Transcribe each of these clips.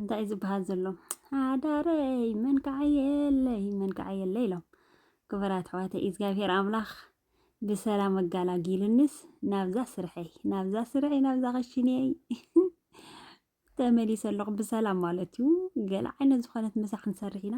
እንታይ እዩ ዝበሃል ዘሎ ሓዳረይ መን ከዓየለይ መን ከዓየለይ ኢሎም ክቡራት ኣሕዋተይ እግዚኣብሄር ኣምላኽ ብሰላም ኣጋላጊሉንስ ናብዛ ስርሐይ ናብዛ ስርሐይ ናብዛ ክሽንየይ ተመሊሰ ኣለኹ ብሰላም ማለት እዩ። ገለ ዓይነት ዝኾነት ምሳ ክንሰርሕ ኢና።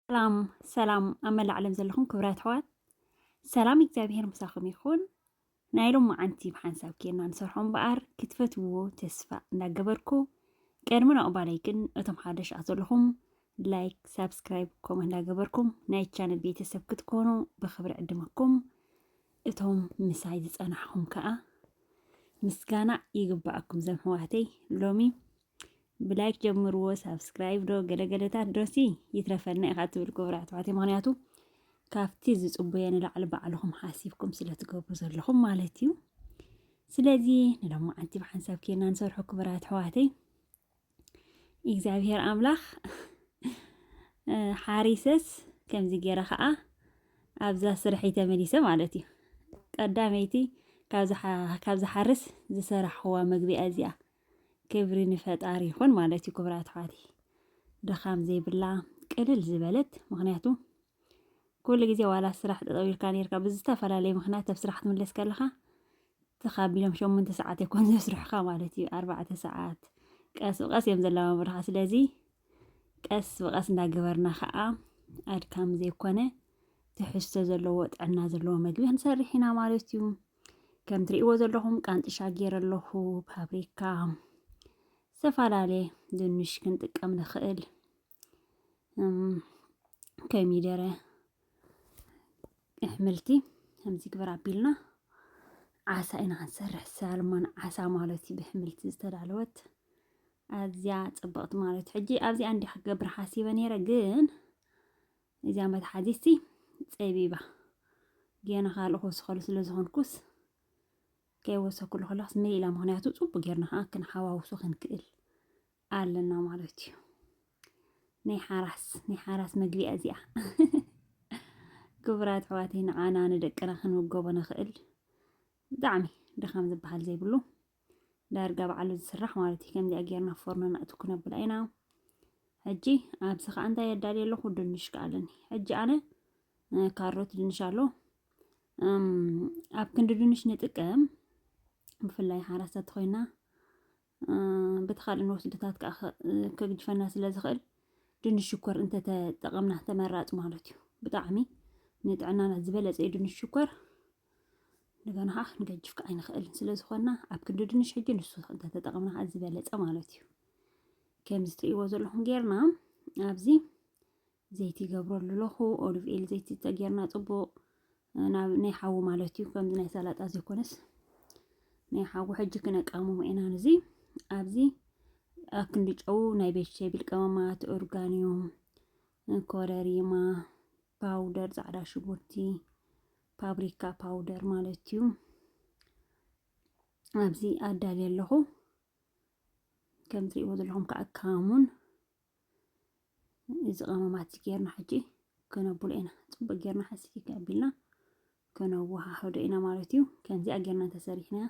ሰላም ሰላም ኣብ መላእ ዓለም ዘለኹም ክብራት ኣሕዋት ሰላም እግዚኣብሄር ምሳኹም ይኹን። ናይ ሎም መዓንቲ ብሓንሳብ ኬና ንሰርሖ እምበኣር ክትፈትውዎ ተስፋ እንዳገበርኩ ቅድሚ ነቕባለይ ግን እቶም ሓደሻት ዘለኹም ላይክ፣ ሳብስክራይብ፣ ኮመ እንዳገበርኩም ናይ ቻነል ቤተሰብ ክትኮኑ ብክብሪ ዕድመኩም እቶም ምሳይ ዝፀናሕኹም ከዓ ምስጋና ይግባኣኩም ዘምሕዋተይ ሎሚ ብላይክ ጀምርዎ ሳብስክራይብ ዶ ገለገለታት ዶሲ ይትረፈና ኢኻ ትብል ክቡር ኣሕዋት ምክንያቱ ካብቲ ዝፅቡየ ንላዕሊ ባዕልኹም ሓሲብኩም ስለ ትገብሩ ዘለኹም ማለት እዩ ስለዚ ንሎማዓንቲ ብሓንሳብ ኬና ንሰርሖ ክቡራት ኣሕዋተይ እግዚኣብሄር ኣምላኽ ሓሪሰስ ከምዚ ገይረ ከዓ ኣብዛ ስርሐይ ተመሊሰ ማለት እዩ ቀዳመይቲ ካብ ዝሓርስ ዝሰራሕዋ መግቢያ እዚኣ ክብሪ ንፈጣሪ ይኹን ማለት እዩ ክብራት ኣሕዋት ድኻም ዘይብላ ቅልል ዝበለት ምክንያቱ ኩሉ ግዜ ዋላ ስራሕ ጠጠው ኢልካ ነርካ ብዝተፈላለየ ምክንያት ኣብ ስራሕ ክትምለስ ከለካ ተኻቢሎም ሸሞንተ ሰዓት ይኮን ዘስርሑካ ማለት እዩ ኣርባዕተ ሰዓት ቀስ ብቀስ እዮም ዘላማምሩካ ስለዚ ቀስ ብቀስ እንዳገበርና ከዓ ኣድካሚ ዘይኮነ ትሕዝቶ ዘለዎ ጥዕና ዘለዎ መግቢ ክንሰርሕ ኢና ማለት እዩ ከም ትሪእዎ ዘለኹም ቃንጥሻ ገይረ ኣለኹ ፓብሪካ ዝተፈላለየ ድንሽ ክንጥቀም ንኽእል ከሚደረ ኣሕምልቲ ከምዚ ግበር ኣቢልና ዓሳ ኢና ክንሰርሕ ሳልሞን ዓሳ ማለት እዩ ብሕምልቲ ዝተዳለወት ኣዝያ ፅብቕቲ ማለት ሕጂ ኣብዚኣ እንዲ ክገብር ሓሲበ ነይረ ግን እዚኣ መትሓዚትሲ ፀቢባ ገና ካልእ ክወስኸሉ ስለ ዝኾንኩስ ከይወሰኩሉ ከለኹስ መይ ኢላ ምክንያቱ ፅቡቅ ጌርና ከዓ ክንሓዋውሶ ክንክእል ኣለና ማለት እዩ ናይ ሓራስ ናይ ሓራስ መግቢ እዚኣ ክቡራት ኣሕዋተይ ንዓና ንደቅና ክንምገቦ ንኽእል ብጣዕሚ ድኻም ዝበሃል ዘይብሉ ዳርጋ በዓሉ ዝስራሕ ማለት እዩ። ከምዚኣ ጌርና ፎርኖ ነእቱ ክነብላ ኢና። ሕጂ ኣብዚ ከዓ እንታይ የዳልየ ኣለኹ? ድንሽ ከዓ ኣለኒ። ሕጂ ኣነ ካሮት ድንሽ ኣሎ ኣብ ክንዲ ድንሽ ንጥቀም ብፍላይ ሓራሳት ኮይና በቲ ካልእ ንወስድታት ከዓ ከግጅፈና ስለ ዝኽእል ድንሽ ሽኮር እንተተጠቐምና ተመራፂ ማለት እዩ። ብጣዕሚ ንጥዕናና ዝበለፀ እዩ ድንሽ ሽኮር። ንገና ከዓ ክንገጅፍ ከዓ ኣይንኽእልን ስለ ዝኾና ኣብ ክንዲ ድንሽ ሕጂ ንሱ እንተተጠቐምና ከዓ ዝበለፀ ማለት እዩ ከምዚ ትሪእዎ ዘለኹም ጌርና ኣብዚ ዘይቲ ይገብረሉ ኣለኹ ኦሊቭ ኤል ዘይቲ ተጌርና ፅቡቕ ናብ ናይ ሓዊ ማለት እዩ ከምዚ ናይ ሰላጣ ዘይኮነስ ናይ ሓዊ ሕጂ ክነቃምሞ ኢና ንዚ ኣብዚ ኣብ ክንዲ ጨው ናይ ቬጅቴብል ቀመማት ኦርጋኒዮ ኮረሪማ ፓውደር ፃዕዳ ሽጉርቲ ፓብሪካ ፓውደር ማለት እዩ ኣብዚ ኣዳልየ ኣለኹ ከም ትሪእዎ ዘለኹም ከዓ ካሙን እዚ ቀመማት ጌርና ሕጂ ከነብሎ ኢና ፅቡቅ ጌርና ሓሲኪ ከቢልና ከነወሃህዶ ኢና ማለት እዩ ከምዚኣ ጌርና ተሰሪሕና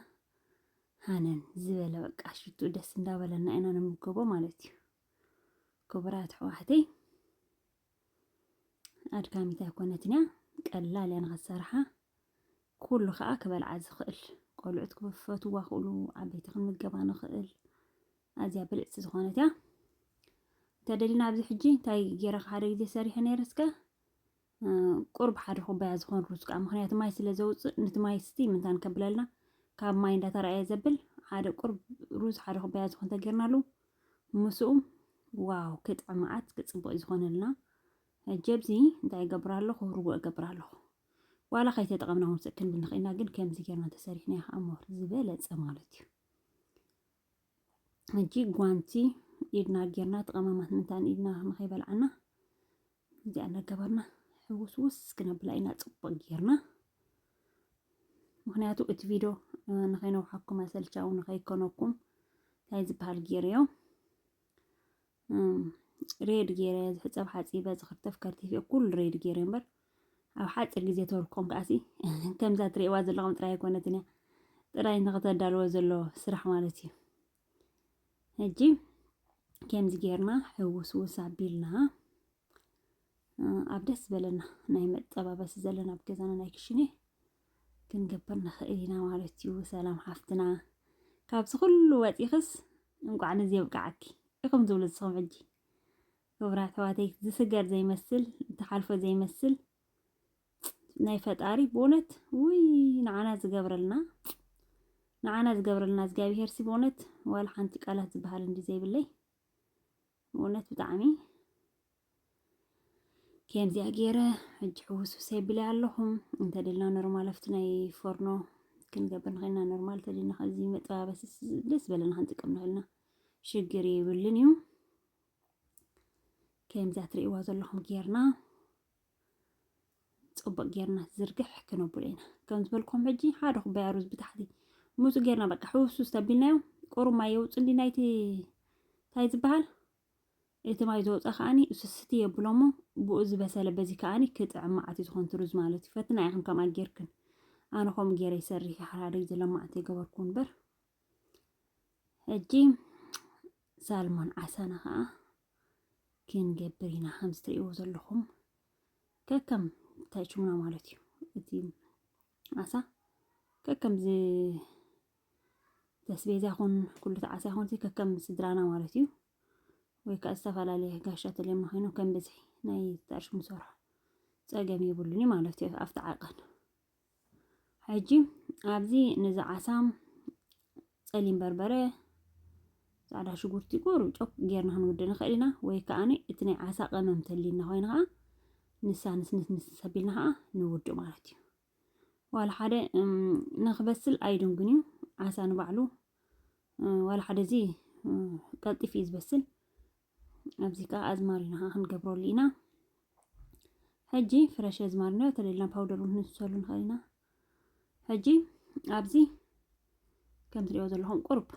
ሃነን ዝበለ በቃ ሽቱ ደስ እንዳበለና ኢና ንምገቦ ማለት እዩ ክቡራት ኣሕዋተይ ኣድካሚት ኣይኮነትን እያ ቀላል እያ ንኸሰርሓ ኩሉ ከዓ ክበልዓ ዝኽእል ቆልዑት ክፈትዋ ክእሉ ዓበይቲ ክንምገባ ንኽእል ኣዝያ ብልፅቲ ዝኾነት እያ እንተደሊና ኣብዚ ሕጂ እንታይ ገይረ ሓደ ግዜ ሰሪሐ ነይረ እስከ ቁርብ ሓደ ኩባያ ዝኾን ሩዝ ከዓ ምክንያቱ ማይ ስለ ዘውፅእ ነቲ ማይ ስቲ ምንታን ከብለልና ካብ ማይ እንዳተረኣየ ዘብል ሓደ ቁርብ ሩዝ ሓደ ኩባያ ዝኾን ተገይርናሉ ምስኡ ዋው ክጥዕ መዓት ክጽቡቕ ዝኾነልና ሕጂ ኣብዚ እንታይ ይገብር ኣለኹ ርጉእ እገብር ኣለኹ ዋላ ከይተጠቐምና ውፅእ ክንብል ንኽእልና ግን ከምዚ ጌርና ተሰሪሕና ከዓ ሞር ዝበለፀ ማለት እዩ ሕጂ ጓንቲ ኢድና ጌርና ተቐማማት ምንታን ኢድና ንኸይበልዓና እዚኣ እናገበርና ሕውስውስ ክነብላ ኢና ፅቡቅ ጌርና ምክንያቱ እቲ ቪድዮ ንከይነውሓኩም ኣሰልቻዊ ንከይኮነኩም እንታይ ዝበሃል ጌርዮ ሬድ ጌረ ዝሕፀብ ሓፂበ ዝክርተፍ ከርቲፈ ኩሉ ሬድ ጌረ እምበር ኣብ ሓፂር ግዜ ተወልኮም ከዓሲ ከምዛ ትሪእዋ ዘለኹም ጥራይ ኣይኮነትን እያ ጥራይ ንክተዳልዎ ዘሎ ስራሕ ማለት እዩ ሕጂ ከምዚ ጌርና ሕውስውስ ኣቢልና ኣብ ደስ ዝበለና ናይ መጠባበሲ ዘለና ኣብ ገዛና ናይ ክሽነ ክንገብር ንኽእል ኢና ማለት እዩ። ሰላም ሓፍትና፣ ካብዚ ኩሉ ወፂኽስ እንቋዕ ነዚ የብቃዓኪ ኢኹም ዝብሉ ዝስኹም ሕጂ ክቡራት ኣሕዋተይ ዝስገር ዘይመስል ተሓልፎ ዘይመስል ናይ ፈጣሪ ብእውነት ውይ ንዓና ዝገብረልና ንዓና ዝገብረልና እግዚኣብሄር ሲ ብእውነት ዋላ ሓንቲ ቃላት ዝበሃል እንዲ ዘይብለይ ብእውነት ብጣዕሚ ከምዚኣ ገይረ ሕጂ ሕውስውስ የብለይ ኣለኹም እንተደልና ኖርማል ኣብቲ ናይ ፎርኖ ክንገብር ንኽእልና ኖርማል እንተደልና ከዚ መጠባበሲ ደስ በለና ክንጥቀም ንኽእልና ሽግር የብልን እዩ ከምዚኣ ትርእይዋ ዘለኹም ጌርና ፅቡቅ ጌርና ዝርግሕ ክነብሎ ኢና ከም ዝበልኩም ሕጂ ሓደ ኩባያ ሩዝ ብታሕቲ ምፁ ጌርና በቃ ሕውስውስ ተቢልናዮ ቁሩብ ማይ የውፅሊ ናይቲ እንታይ ዝበሃል እቲ ማይ ዝወፀ ከዓኒ ስስቲ የብሎሞ ብኡ ዝበሰለ በዚ ከዓኒ ክጥዕም መዓት እዩ ዝኾን ሩዝ ማለት እዩ ፈትና ኢኹም ከምኣ ጌርክን ኣነ ከምኡ ጌረ ይሰርሕ ሓራደይ ዘለማዕተ ይገበርኩ እምበር ሕጂ ሳልሞን ዓሳና ከኣ ክንገብር ኢና ከምዚ ትርእይዎ ዘለኹም ከከም ታይቹምና ማለት እዩ እቲ ዓሳ ከከም ተስቤዛ ይኹን ኩሉ ተዓሳ ይኹን እዚ ከከም ስድራና ማለት እዩ ወይ ከዓ ዝተፈላለየ ጋሻ ተልዮም ንኮይኑ ከም ብዝሒ ናይ ተርሽሙ ሰርሖ ፀገም የብሉን ማለት እዩ ኣብቲ ዓቐን ሕጂ ኣብዚ ነዚ ዓሳ ጸሊም በርበረ፣ ጻዕዳ ሽጉርቲ፣ ቁሩብ ጨው ጌርና ክንውድእ ንኽእል ኢና ወይ ከኣ እቲ ናይ ዓሳ ቀመም ተልዩና ኮይኑ ከኣ ንሳ ንስንስ ንስ ሰቢልና ከኣ ንውድእ ማለት እዩ። ዋላ ሓደ ንክበስል ኣይድንግን እዩ ዓሳ ንባዕሉ ዋላ ሓደ እዚ ቀልጢፍ እዩ ዝበስል ኣብዚ ከዓ ኣዝማሪኖ ከዓ ክንገብረሉ ኢና ሕጂ ፍረሽ ኣዝማሪኖ ተለልና ፓውደር እውን ክንሰሉ ንኽእል ኢና ሕጂ ኣብዚ ከም ትሪኦ ዘለኹም ቁርብ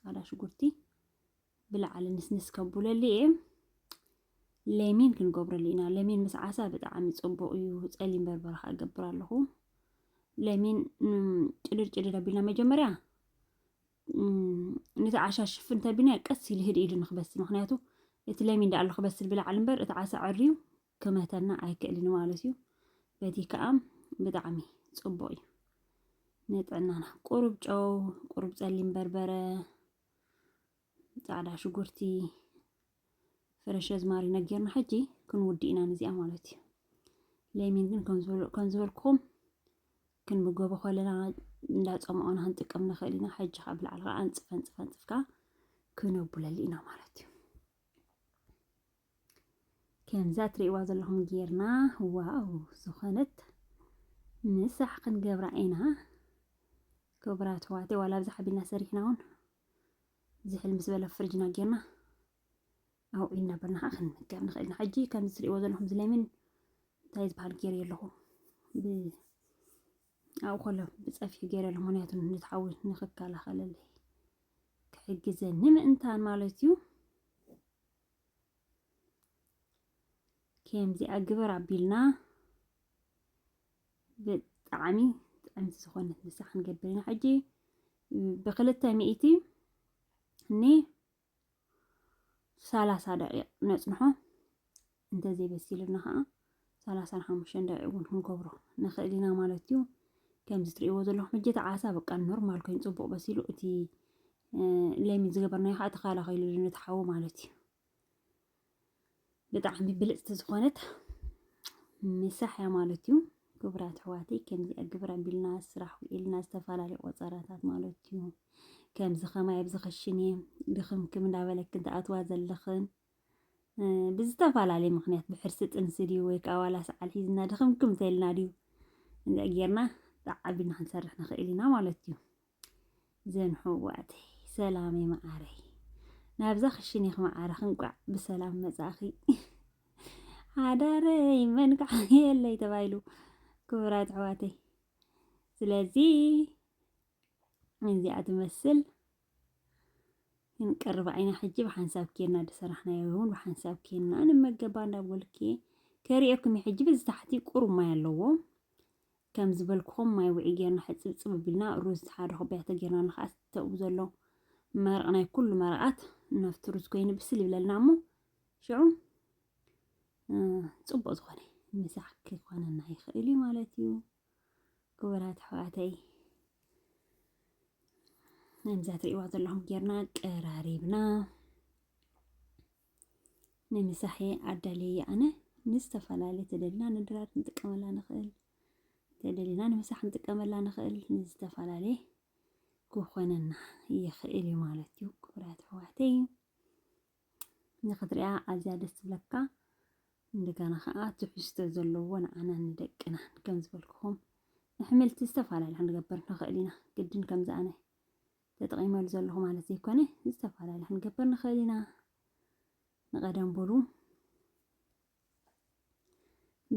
ፃዕዳ ሽጉርቲ ብላዕሊ ንስንስ ከቡለሉ እየ ለሚን ክንገብረሉ ኢና ለሚን ምስ ዓሳ ብጣዕሚ ፅቡቅ እዩ ፀሊም በርበረ ከዓ እገብር ኣለኹ ለሚን ጭድር ጭድር ኣቢልና መጀመርያ ነቲ ዓሻ ሽፍን ተቢልናዮ ቀስ ኢሉ ህድ ኢሉ ንክበስል ምክንያቱ እቲ ለሚን ዳኣሉ ክበስል ብላዕሊ እምበር እቲ ዓሳ ዕርዩ ክመተና ኣይክእልን ማለት እዩ በቲ ከዓ ብጣዕሚ ፅቡቅ እዩ ንጥዕናና ቁሩብ ጨው ቁሩብ ፀሊም በርበረ ፃዕዳ ሽጉርቲ ፍረሸ ዝማሪ ነጊርና ሕጂ ክንውዲ ኢና ንዚኣ ማለት እዩ ለሚን ግን ከም ዝበልኩኹም ክንምገቦ ከለና እንዳፀምኦና ክንጥቀም ንኽእል ኢና ሕጂ ካብ ላዕሊ ከዓ ኣንፅፍ ኣንፅፍ ኣንፅፍካ ክነቡለሉ ኢና ማለት እዩ ከምዛ ትሪእዋ ዘለኹም ጌርና ዋው ዝኾነት ምሳሕ ክንገብራ ኢና ክቡራት ዋላ ብዛሓቢልና ሰሪሕና እውን ዝሕል ምስ በለ ፍርጅና ጌርና ኣብኡ እናበልና ከዓ ክንምገብ ንኽእል ኢና ሕጂ ከምዚ ትሪእዎ ዘለኹም እዚ ለሚን እንታይ ዝበሃል ገይረ ኣለኹ ኣብኡ ከሎ ብፀፊሑ ገይረ ኣለኹ ምክንያቱ ነቲ ሓዊ ንኽከላኸለለይ ክሕግዘኒ ምእንታን ማለት እዩ ከምዚኣ ግበር ኣቢልና ብጣዕሚ ጥዕምቲ ዝኾነት ንሳ ክንገብር ኢና ሕጂ ብክልተ ሚእቲ ኒ ሰላሳ ደቂቕ ነፅንሖ እንተዘይ በሲሉና ከዓ ሰላሳን ሓሙሽተን ደቂቕ እውን ክንገብሮ ንኽእል ኢና ማለት እዩ ከምዚ ትሪእዎ ዘለኹም ሕጂ እቲ ዓሳ በቃ ኖርማል ኮይኑ ፅቡቕ በሲሉ እቲ ለሚን ዝገበርናዮ ከዓ ተኸላኺሉ ነቲ ሓዊ ማለት እዩ ብጣዕሚ ብልጽቲ ዝኾነት ምሳሕ እያ ማለት እዩ። ክቡራት ኣሕዋተይ ከምዚ ግብረ ቢልና ስራሕ ውዒልና ዝተፈላለዩ ቆፀራታት ማለት እዩ። ከምዚ ከማይ ኣብዚ ክሽነ ድኽምክም እንዳበለክን ትኣትዋ ዘለኽን ብዝተፈላለየ ምክንያት ብሕርሲ ጥንሲ ድዩ ወይ ከዓ ዋላ ሰዓል ሒዝና ድኽምክም ተልና ድዩ እንደ ጌርና ተዓቢና ክንሰርሕ ንኽእል ኢና ማለት እዩ። ዘንሕዋተይ ሰላመይ መዓረይ ናብዛ ክሽኒኽ መዓርኽ እንቋዕ ብሰላም መጻኺ ሓዳረይ መን ከዓ የለይ ተባሂሉ ክቡራት ኣሕዋተይ ስለዚ እዚኣ ትመስል ክንቀርብ ዓይና ሕጂ ብሓንሳብ ኬና ዝሰራሕናዮ እውን ብሓንሳብ ኬና ንመገባ እንዳበልኪ ከሪኦኩም ሕጂ በዚ ታሕቲ ቁሩብ ማይ ኣለዎ ከም ዝበልኩኹም ማይ ውዒ ጌርና ሕጽብጽብ ኣቢልና ሩዝ ሓደ ኩባያቶ ጌርና ንኽኣስ ተብኡ ዘሎ መረቕ ናይ ኩሉ መረቓት ናብቲ ሩዝ ኮይኑ ብስል ይብለልና እሞ ሽዑ ጽቡቕ ዝኾነ ምሳሕ ክኾነና ይኽእል እዩ ማለት እዩ ክቡራት ኣሕዋተይ ነዛ ትሪእዋ ዘለኹም ጌርና ቀራሪብና ንምሳሕ እየ ኣዳልየያ ኣነ ንዝተፈላለየ ተደልና ንድራር ክንጥቀመላ ንኽእል ተደልና ንምሳሕ ክንጥቀመላ ንኽእል ንዝተፈላለየ ክኾነና ይኽእል እዩ ማለት እዩ ክብራት ኣሕዋተይ ንኽትሪኣ ኣዝያ ደስ ትብለካ እንደገና ከዓ ትሕዝቶ ዘለዎ ንዓና ንደቅና ከም ዝበልክኹም ንሕምልቲ ዝተፈላለዩ ክንገብር ንኽእል ኢና ግድን ከምዚ ኣነ ተጠቒመሉ ዘለኹ ማለት ዘይኮነ ዝተፈላለየ ክንገብር ንኽእል ኢና ንቐደም በሉ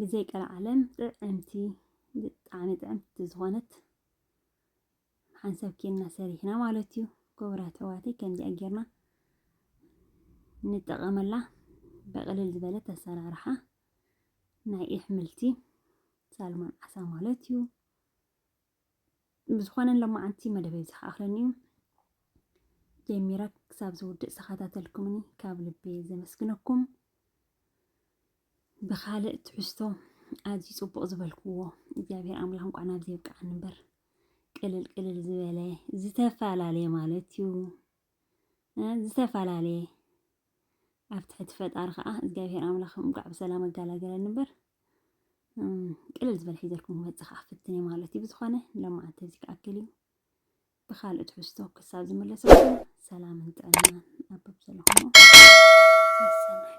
ብዘይ ቀልዓለም ጥዕምቲ ብጣዕሚ ጥዕምቲ ዝኾነት ሓንሳብ ኬንና ሰሪሕና ማለት እዩ ክቡራት ኣሕዋተይ ከምዚኣ ጌርና ንጠቐመላ በቕልል ዝበለት ኣሰራርሓ ናይ ኣሕምልቲ ሳልሞን ዓሳ ማለት እዩ ብዝኾነ ሎማዓንቲ መደበይ ዝኸኣኽለኒ እዩ ጀሚረ ክሳብ ዝውድእ ዝተኸታተልኩምኒ ካብ ልቢ ዘመስግነኩም ብካልእ ትሕዝቶ ኣዝዩ ፅቡቕ ዝበልክዎ እግዚኣብሔር ኣምላኽ እንኳዕ ናብዚ የብቅዓኒ እምበር ቅልል ቅልል ዝበለ ዝተፈላለየ ማለት እዩ ዝተፈላለየ ኣብ ትሕቲ ፈጣሪ ከዓ እግዚኣብሔር ኣምላኽ እንኳዕ ብሰላም ኣጋላገለኒ እምበር ቅልል ዝበለ ሒዘልኩም ክመፅእ ከዓ ፍትን እየ ማለት እዩ። ብዝኾነ ሎማዓንቲ እዚ ክኣክል እዩ። ብካልእ ትሕዝቶ ክሳብ ዝምለሰኩም ሰላምን ጥዕናን ኣብ ዘለኹሞ ሰሰናዩ